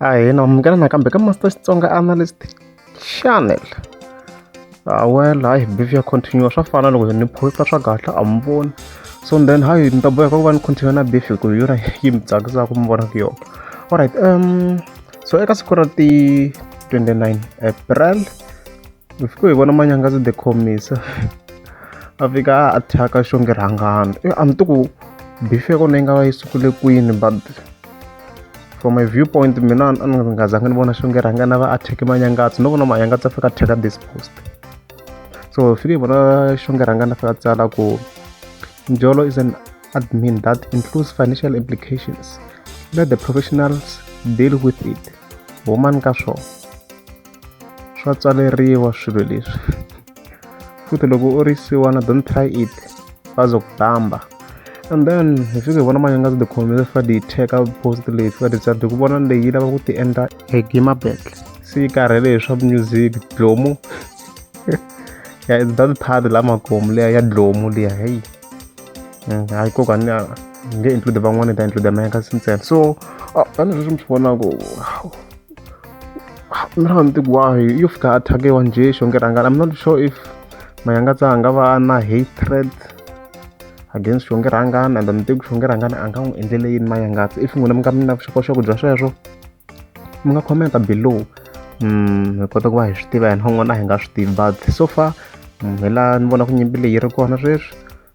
ahina munghana nakambe ka master xitsonga analyst channel ah, well hayi behavior continue swa fana loko ni posta swa kahle a mi voni so then hayi ni ta boheka ku va ni continue na beef hi ku hi yona yi mi tsakisaka mi vonaka yona alright um so eka siku ra ti 29 april hi fike hi vona manyangazi the khomisa a fika a thyaka xonge rhangana e a mi ti ku bifi ya kona yi nga va yi sukule kwini but from my view point mina a ni nga zangi ni vona xonge rhangana va a thyeke manyangatsi no vona manyangatsi a fika a thyeka this post so hi fike hi vona xonge rhangana a fika a tsala ku njolo is an admin that includes financial implications let the professionals deal with it woman ka swona swa tswaleriwa swilo leswi futhi loko u ri siwana don't try it bazo ku tamba and then hi fike hi vona manje nga ti khome se fika ti cheka post leyi fika ti tsadi ku vona leyi lava ku ti endla hi gima battle se yi karhele hi swa music dlomu ya it's that part la makomu leya ya dlomu leya heyi mm, hayi koka ni nge include van'wana ta include meka sintsena so ah, tanihi sweswi mi swi vonaku I'm not on the why you've got a one J Shongeranga. I'm not sure if Mayangatsa Angavana hatred against Shongerangan and I'm thinking Shongerangan Angam in delay in Mayangatsa. If you want to come up Shokosho Joshua, you can comment below. Hmm, kota ku va hi swi tiva hi nhon'wana hi nga swi tivi but so far hi laha ni vona ku nyimpi leyi ri kona sweswi